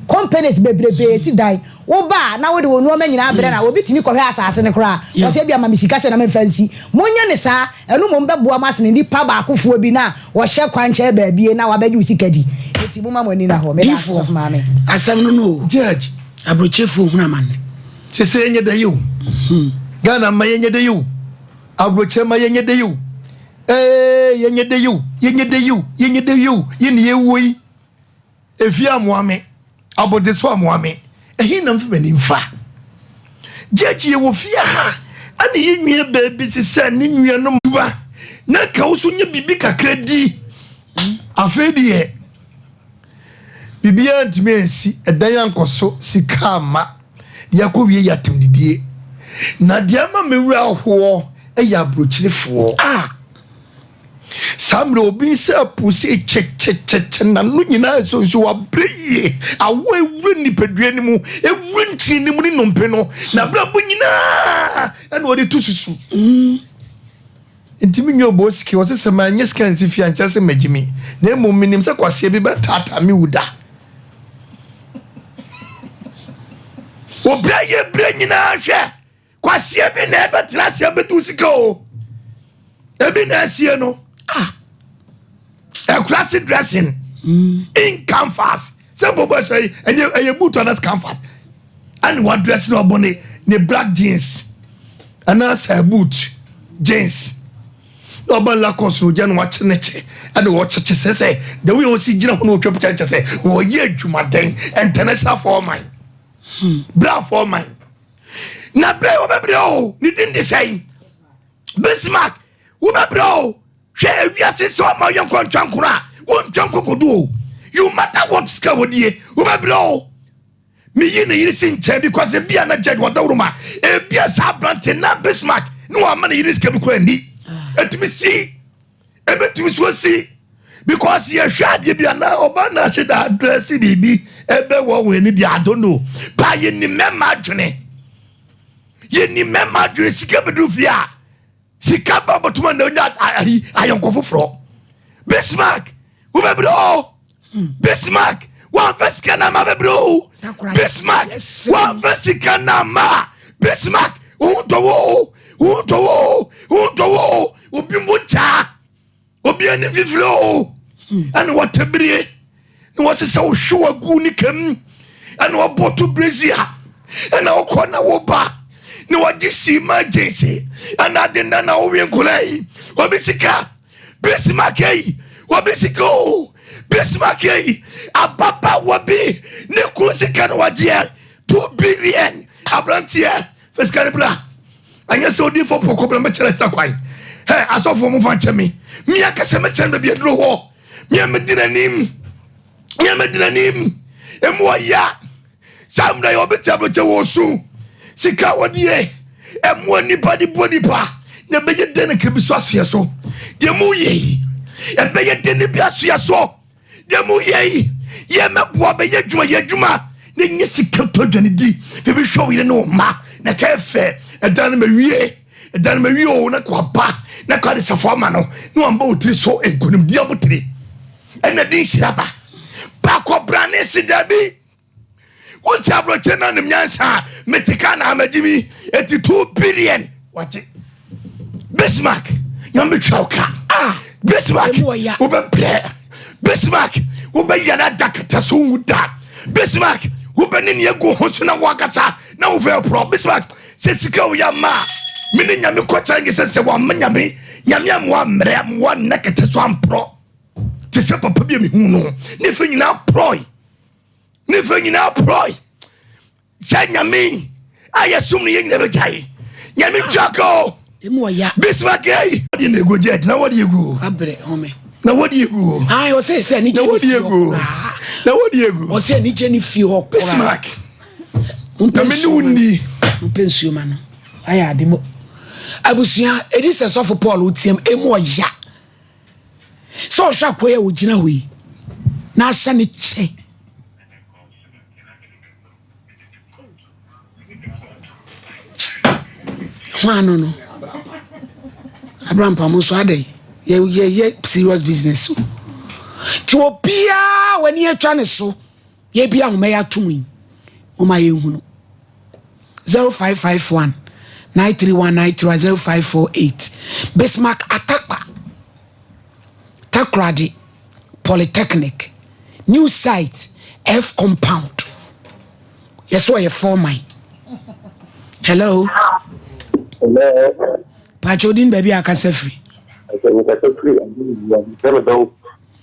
companies bebrebe si dan wo ba a na wode wo nnoɔma nyinaa brɛ no a obi tumi kɔhwɛ asase no koraa ɔsɛ ebia ma me sika sɛ na memfa nsi monyɛ ne saa ɛno mmom bɛboa mo asene nipa baakofoɔ bi na wɔhyɛ kwan kyɛɛ baabie na wabɛgye wo sika di enti moma mo ani na hɔ meda ase sɔfo maame asɛm no no o judge abrokyefoɔ hunu amanne sese yɛnyɛ dɛ yi o Ghana mma yɛnyɛ dɛ yi o abrokye mma yɛnyɛ dɛ yi o ee yɛnyɛ dɛ yi o yɛnyɛ dɛ yi o yɛnyɛ dɛ yi o yɛne yɛwuo yi Efi a moa me, abɔde so a moa me, ehi na mfi m'ani mfa. Gyɛgye yɛ wɔ fie ha, ɛne yi nwie baabi te sɛ ne nuanom. Ba, na ka wo so nyɛ biribi kakra di. Afei deɛ, biribiara ntumi ansi, ɛdan ankɔ so, sika amma. Deɛ akɔ wie yɛ atamdidie. Na deɛ ama me werɛ ahoɔ yɛ aburokyerefoɔ. Ah! Saa mmerɛ yi obi nsa apuu se kyekyekye, n'ano nyinaa resonso, wabrɛ yie, awɔ awura nipadua no mu, awura ntini no mu ne nnompe no, n'abrabɔ nyinaa ɛna ɔde to susu. Ntumi nyɛ ɔbɔ sika, ɔse sɛ manyɛ sika nsi fie ankyerɛ sɛ magye mi, na mmom menim sɛ kwaseɛ bi bɛtaataa me wu da. Obrɛ yɛ berɛ nyinaa hwɛ. Kwasie bi na ɛbɛtena ase abɛdi wo sika o ebi na asie no ah ɛkura se dressing hmm. in canvas sɛ bɔbɔ ɛhyɛ yi ɛyɛ ɛyɛ boot anas canvas ɛna wa dress na ɔbɔ ne ne black jeans ɛna sɛ boot jeans na ɔba lakɔs na ogya na wakyere ne kye ɛna wɔkyekye sɛ sɛ the way ɔsi gyina ho na ɔtwa pita nkyɛ sɛ wɔyɛ adwumaden international foreman hmm. bra foreman. na bɛyi wɔbɛbrɛ o ne din de sɛn bismark wobɛbrɛ o hwɛ ewiase sɛ ɔma yɛ nkɔ ntwa nkoro a wontwa nkokodo o you matter what sika wɔdie wobɛbrɛ o meyi ne yere si nkyɛn bi kɔsɛ bia na gyad wɔdaworo ma ebia saa aberante na bismark ne wɔama ne yere sika bi kora ni ɛtumi si ɛbɛtumi so asi because yɛhwɛ adeɛ bi anaa ɔbaa na ahyɛ da adrɛse biribi ɛbɛ wɔ wɔn ani deɛ adono paa yɛnim mɛma adwene yɛnim mɛma adwene sika bɛduru fie a sika ba bɔtoma na onya ayi ayɔnko foforɔ bismark wobɛbrɛ o bismark wamfa sika no ama bɛbrɛ o bismark wamfa sika no ama bismark wohu dɔwɔ o wohu dɔwɔ o wohu dɔwɔ o obi mu gyaa obi ani fifiri o ɛne wɔtabirie na wɔsesɛ wo hwe wagu ne kam ɛna wɔbɔ to brezi a ɛna wokɔ na woba na wɔgye sii ma agensi ɛna ade nna na wowe nkola yi obi sika Bismarck ayi obi sika o Bismarck ayi ababaawa bi ne kun sika na wagyeɛ two billion aberanteɛ fɛ sika no bra anyɛ sɛ odi fɔ pɔkɔ bra mɛkyerɛ ta kwan hɛ asɔfoɔ mo fa nkyɛ me mia kɛsɛ mɛkyerɛ no baabi aduro hɔ mia mɛdi n'anim mia mɛdi n'anim emu ɔya Saa mmerɛ yi obi tɛm no kyɛ wɔ osu. Sika a wɔdie, ɛmoa nnipa de bɔ nnipa, na ɛbɛyɛ dɛn na kebi so asoɛ so? Deɛ mo yɛ yi, ɛbɛyɛ dɛn na bi asoɛ so? Deɛ mo yɛ yi, yɛ mɛboa bɛyɛ adwuma, yɛ adwuma na nyɛ sika tɔ aduane di, na bi hwɛ wo yere ne wo mma, na ka ɛfɛ, ɛda no mawie, ɛda no mawie o, na ka waba, na ka ɔde safoa ma no, na wamba wo tiri so nkonimdi abotire. Ɛna de nhyira ba. Baakɔ brane se dabi. wonti aborɔkye no anim nyansa a mete ka na amagye mi ɛti 2 billion wagye bismark nyame twa wo ka ah, bismark wobɛbrɛ bismark wobɛyɛ no ada kata so wu da bismark wobɛne ne agu ho so na woakasa na wofɛ porɔ bismark sɛ sika woyɛ ma a mene nyame kɔkyerɛ nye sɛ sɛ wɔama nyame nyame a moa mmerɛ moa nna kata so amporɔ te sɛ papa bi a mehu no ne fɛ nyinaa porɔe ne fɛ nyinaa porɔe sɛ nyame a yɛsom no yɛ nyina bɛgyae nyame twaka o bismagei deɛ na ɛgu gyɛt na wɔde ɛgu abrɛ home na wɔde ɛgu ɔsɛ sɛ ne gyɛ ne fie hɔ na wɔde ɛgu ɔsɛ ne gyɛ ne fie hɔ bismak na mene wo nni mpɛ nsuo ma no ayɛ ade mu abusua ɛdi sɛ sɔfo paul wotiam ɛmu ɔya sɛ ɔhwɛ akoa yi a ɔgyina hɔ yi na ahyɛ ne kyɛ hwan no no abrampam nso adɛn yɛyɛ serious business o nti obiara w'ani atwa ne so Yɛ bi ahoma yi atom yi moma yɛ nhunu 0551 93193 0548 Bismarck Atakpa Takoradi Polytechnic new site F compound yɛ so ɔyɛ four man hello hello pàtó odin baabi akasa firi.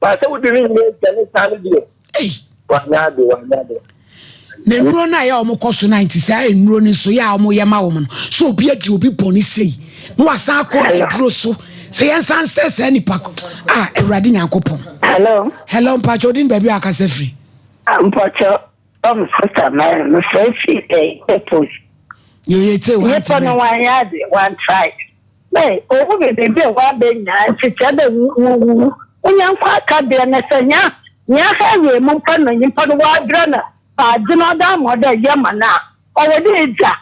Baasa wodi ne nyina agya ne saa no deɛ. Ei. Wanyɛ ade wanyɛ ade. Na nnuro no a yɛ wɔn kɔ so na nti saa nnuro no nso yɛ a wɔn yɛ ma wɔn no so obi adi obi bɔ ne sei na wasan akɔ aduro so sɛ yɛn san sɛ saa nipa a awurade nyankopɔn. hello. hello mpatsɛ odi ni baabi a akasa firi. mpatsɛ. Tom so Tamara no sɛ efi ɛyi purpose. Yeye tse wa ntse. Nipa no wa ya de wa try. Bɛ owu bɛ bɛ bɛ wa bɛ nya nti tse bɛ wu wu wu. Unya nkwa aka deɛ ne sɛ nya nya ha wie mu mpa no nipa no wa dra na pa adze no ɔda ama ɔda yɛ ma na ɔwɔ de edza.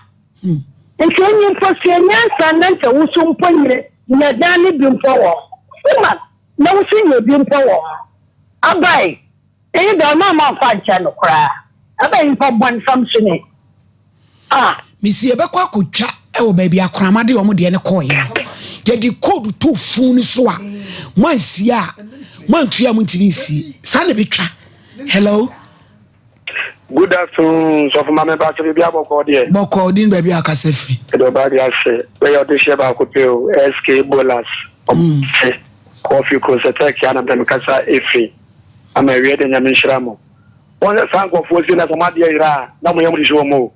Nti enyi mpo sua nyansa na nkyɛ wusu mpo nyɛ nyɛ dan ne bi mpo wɔ ho. Sima na wusu nyɛ bi mpo wɔ ho. Abae. Iyi dze ɔno amma mmfa nnkyɛr no koraa, ebɛn nyimpa bɔn fam so nye? Ah! Misi yɛbɛkɔ akotwa wɔ baabi a akorama de wɔn deɛ no kɔɔeɛ no yɛde code to fun no so a mo ansie a mo antua a mo ntumi nsie saa na ɛbɛtwa hello good afternoon sɔfo ma me ba sɛ biribi abɔkɔɔ deɛ bɔkɔɔ din baabi a ɔkasa firi ɛde ɔbaa de ase bɛyɛ ɔde hyɛ baako pɛ o sk bolas ɔmo mm. se kɔfi kuro sɛ tɛkia na bɛmekasa ɛfiri Amen awie de nyame nhyira mo. Wɔn sɛ saa nkurɔfoɔ sei na sɛ wɔn adeɛ yera a na wɔn yam hyehye wɔn o.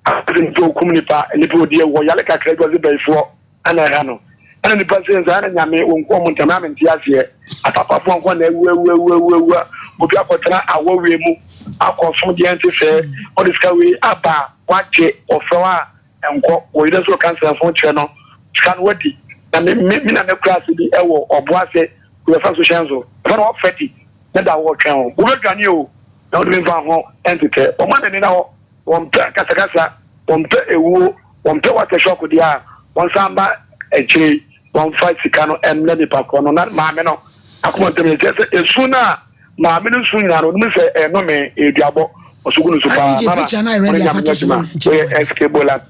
Asɛ nipa okum nipa, nipa odi awu hɔ yare kakra bi ɔse bayifoɔ na ɛha no. Ɛna nipa sei nso ɛna nyame wɔn ku wɔn ntɛm na mente aseɛ. Apapafoɔ nko na awu awu awu awu awu a obi akɔtena awɔ wei mu akɔ som deɛ ɛnte sɛɛ ɔde sika wei aba a wagye ɔfrɛ wo a Nkɔ wɔ yere nso ka nsɛm fo kyerɛ no sika no wadi na me me me nana kura ase bi ɛwɔ ɔbo ase wɔ yɛfɛ so hyɛn so ɛfɛ no ɔfɛ di ne da wɔ twɛn ho wobɛ dwane o na wode me nfa ho ɛntetɛ wɔn a nani na hɔ wɔn pɛ kasakasa wɔn pɛ ewuo wɔn pɛ wata shɔk deɛ a wɔn san ba akyire yi wɔn fa sika no ɛmrɛ nipa korɔ no na maame no akoma ntɛm yɛ kyerɛ sɛ esu no a. Maame no nso nyaa no, onim sɛ ɛnnome, ɛyɛ duabɔ. Ɔsogu no nso paa. Nana, wɔn anyame nya adwuma. Woyɛ SK Bolas.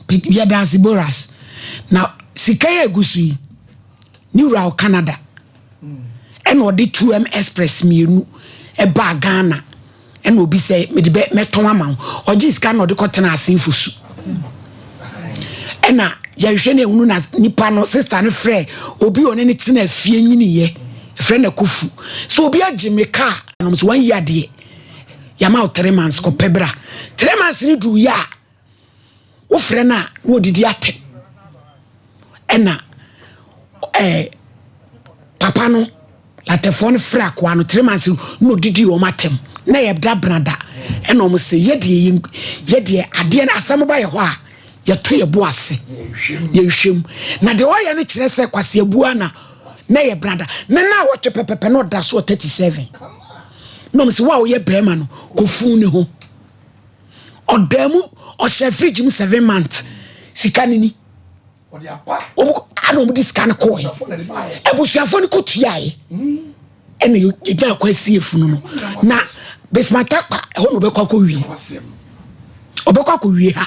Yɛda ase Bolas. Na sika yɛ egu so yi, ne wura wɔ Canada. Ɛna ɔde 2M Express mmienu ɛbaa Ghana. Ɛna obi sɛ mede bɛ mɛtɔn ama wo ɔgye sika na ɔde kɔtena asenfo su ɛna yɛhwɛ na ehunu na nipa no sista no frɛ obi a ɔne ne tena afie nyiniyɛ frɛ na kofu sɛ obi agye me kaa nom so wɔn yi adeɛ yɛama wo three months kɔpɛ bra three months ne duru yɛ a wofrɛ no a na wɔdidi atɛ ɛna ɛɛ eh, papa no latɛfoɔ no frɛ akoa no three months na ɔdidi wɔn atɛm na yɛ da benada ɛna wɔn sɛ yɛdeɛ yɛdeɛ adeɛ no asɛm ba yɛ hɔ a yɛto yɛ bo ase yɛhwɛ mu na deɛ ɔyɛ no kyerɛ sɛ kwasi abua na na yɛ benada na na wɔtwe pɛpɛpɛ na ɔda so ɔ thirty seven na wɔn sɛ wɔn a wɔyɛ bɛrima no kɔ fun ne ho. ɔdaa mu ɔhyɛ fridge mu seven months sika no ni wɔn ana wɔn de sika no kɔɔɛ abusuafoɔ no kɔ tuaeɛ ɛna yɛgya akɔ asi efunu no na besimata kwa ɛhɔ na ɔbɛkɔ akɔ wie ɔbɛkɔ akɔ wie ha.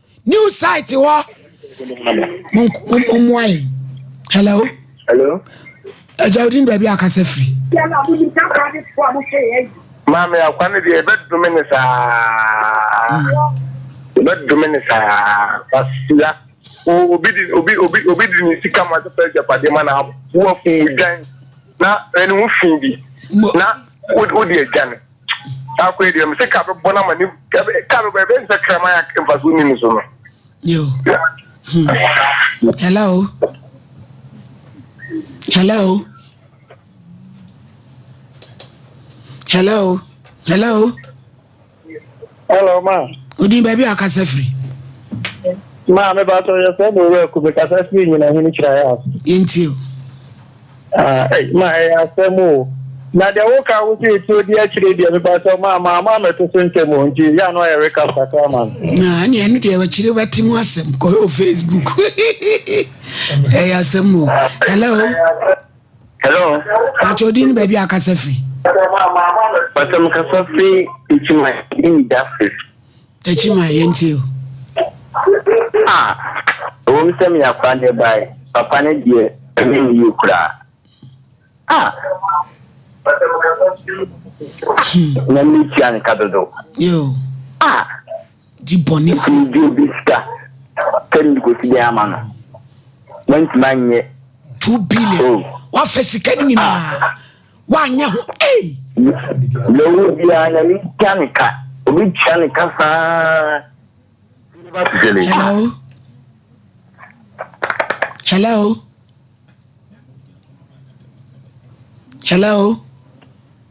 new site hɔ mommoa yɛn hello hello agya wodin baabi a kasa firi maame akwa no deɛ ɛbɛdome ne saa ɛbɛdome ne saa basia obi di obi obi obi di ne sika ma sɛ fɛ agyapadeɛ ma na aboa fun dwan na ɛne ho fi bi na wode agya no Baako yɛ deɛ mese ka bɛbɔ no ama ne ka bɛbɔ ɛbɛyɛ sɛ kraman a mfasoɔ ni ne so no. Yo. Hmm. Hello. Hello. Hello. Hello. Hello, ma. Odin baabi a kasa firi. Ma me ba sọ yẹ sọ mo wura ku me kasa firi nyina hini kyerɛ ayɛ ase. Yɛnti o. Ma ɛyɛ asɛm o. Na deɛ woka wo sɛ ɛtuo di akyire deɛ me ba sọ ma ma ama amɛto so ntɛm o nti yɛ ano ayɛ recap kakra ma me. Na ɛne ɛno deɛ akyire bɛte mu asɛm kɔ Facebook. Ɛyɛ asɛm o. Hello. Hello. Pàtó di ni baabi a kasa firi. Pàtó mi kasa firi Ekyima Eyi Justice. Ekyima yẹn ti o. A ewɔ mu sɛ mi yà kura ne ba yi papa ne deɛ ɛmi ni yie kura. A na mi tia ne ka dodo. Yoo. A. di bɔne firi. Obi gye obi sika sɛ mede kɔsi dɛn ama no, mantumi anyɛ. Two billion. Oh. Wafa sika no nyinaa. Ah. Wanyɛ ho. Ei. Deɛ ɔwɔ biara nyame tua ne ka. Obi tua ne ka saa. Hello. Hello. Hello.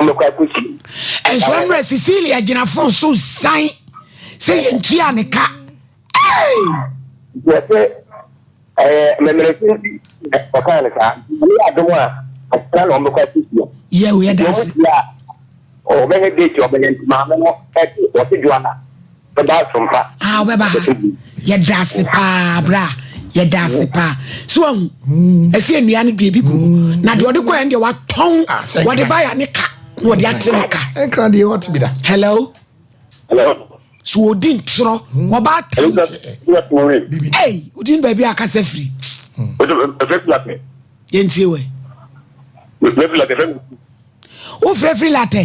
Nhyira mmerɛ Cecilia gyina fon so san sɛ yɛntua ne ka. Wɔsɛ ɛɛ mɛmɛrɛsi nti ɔkaa ne saa ne yɛ adom a ɔsra na ɔmbɛkɔ asisi a. Yɛ o yɛ daase. Ɔbɛyɛ date ɔbɛyɛ nti maame no ɛte ɔte dwa na. Bɛba asom pa. Ah wobɛba ha. Bɛpɛ bi. Yɛda ase paa bra. Yɛda ase paa. So wahu? Ɛsɛ nnua no deɛ bi gu. Na deɛ ɔde kɔɛ no deɛ watɔn. Ah, sɛ Wɔde nkran. ba ya ne ka. Na wɔde ate ne ka. Ɛnkra deɛ hot bi da. Hello. Hello. So wɔdi ntorɔ. Wɔba atam. Elizabeth, Elizabeth Maureen. Bibi. Ei, wodin baabi a kasa firi. What's the first latte? Yɛntie wɛ. The first latte, first. Wofrɛfiri latɛ.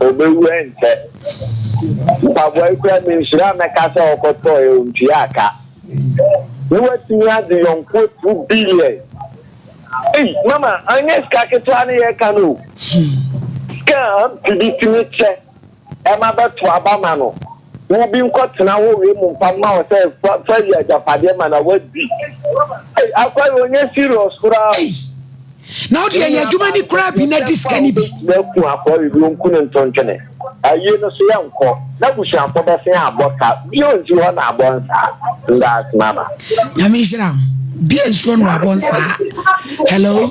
Ɔbɛwura nkyɛ. Mpaboa yi koraa menhyira a mɛka sɛ ɔkɔtɔeɛ ɔntuaa ka. Na watumi agye yɔnkoɔ two billion. Ei mama anyɛ sika ketewa ne yɛreka no o. Sika a aunty bi tumi kyɛ ma bɛto aba ma no. Wo bi nkɔ tena hɔ wei mu mpa ma wo sɛ fa fa wi agyapadeɛ ma na wadi ei akwa yi ɔnyɛ serious koraa o. Ei na wo deɛ yɛ adwuma ni koraa bi na di sika ni bi. Wobɛtumi aku akwa yi bi ɔnku ne ntontwene ayie no so yɛnkɔ na busuafoɔ bɛsen abɔ ka bio nti hɔ na abɔ nsaa ndaase mama. Nyame nhyira wo bia nsuo no wabɔ nsaa hello.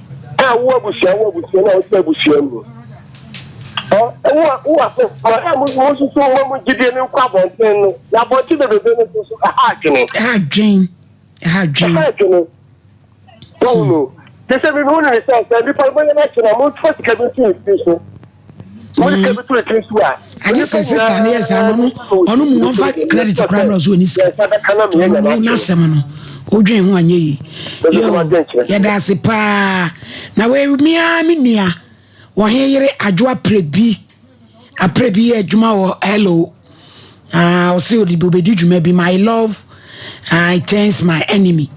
Ɛ wo abusua wo abusua na wote abusua mu ɛ wo a wo a ma ɛ mo mo susu mo mo gyidie no nkɔ abɔnten no na abɔnten bebebe no so so ɛha adwene. Ɛha adwene ɛha adwene. Ɛha adwene wɔn no te sɛ mi mi hu no ne sɛ sɛ nipa bɛyɛ no akyi na mo nfa sika bi nsi ne tiri so. Wọ́n kẹ́ bi tó etí nsu a. Ẹni sẹ sista ni yẹ saa no ọno ọno mu wọn fa credit kura mìíràn ọsọ òní sika ọno mu n'asẹm no odwen ho anyẹ yi yoo yẹda ase paa na wei mmea mi nua wɔn yere adwo apere bi apere bi yɛ adwuma wɔ hello. Ah, ɔsɛ ɔde bi ɔbɛdi dwuma bi my love I turns my enemy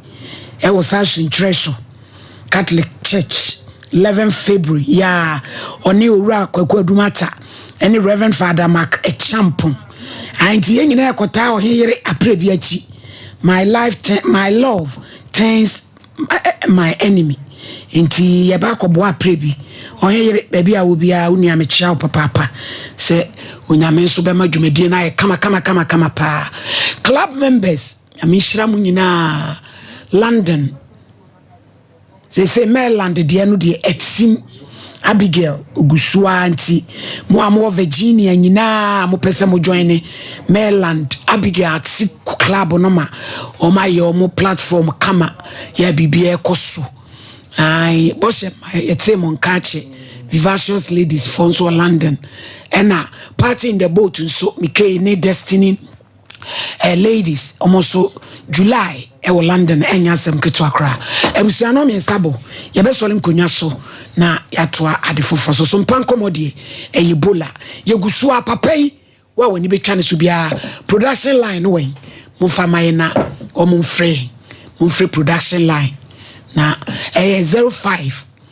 ɛwɔ saa ahyenkyerɛ so Catholic Church 11 February yaa ɔne owura Kwaku Adumata ɛne Reverend Father Mark Ɛkyampɔn nti yɛn nyinaa ɛkɔtaa ɔhe yere apere bi akyi my life my love turns my enemy nti yɛba akɔboa aprɛ bi ɔhe yere baabi a wo biara wo nua mekyia wo papaapa sɛ onyame nso bɛma dwumadie no ayɛ kama kama kama kama paa club members nyame nhyira mu nyinaa london sese maryland deɛ no deɛ ɛtim Abigail gu so ara nti, mo a mowɔ Virginia nyinaa a mopɛ sɛ mo join ne Maryland Abigail Ate Club no ma wɔn ayɛ wɔn platform kama yɛ biribiara ɛkɔ so. Ae, bɔhyɛ ma yɛtee mo nka akyɛ Vivacious Ladies fɔ nso wɔ London. Ɛna Party in the Boat nso, Mikei ne Destiny eh, ladies ɔmo so july ɛwɔ london ɛnyɛ asɛm ketewa koraa abusua no mmiɛnsa bɔ yɛbɛsɔre nkonnwa so na yɛatoa ade foforɔ so so mpa nkɔmmɔ deɛ ɛyɛ bola yɛgu so a papa yi wo a w'ani bɛtwa no so biara production line no wɛn momfa ma yɛ na ɔmo mfrɛ yɛn momfrɛ production line na ɛyɛ 05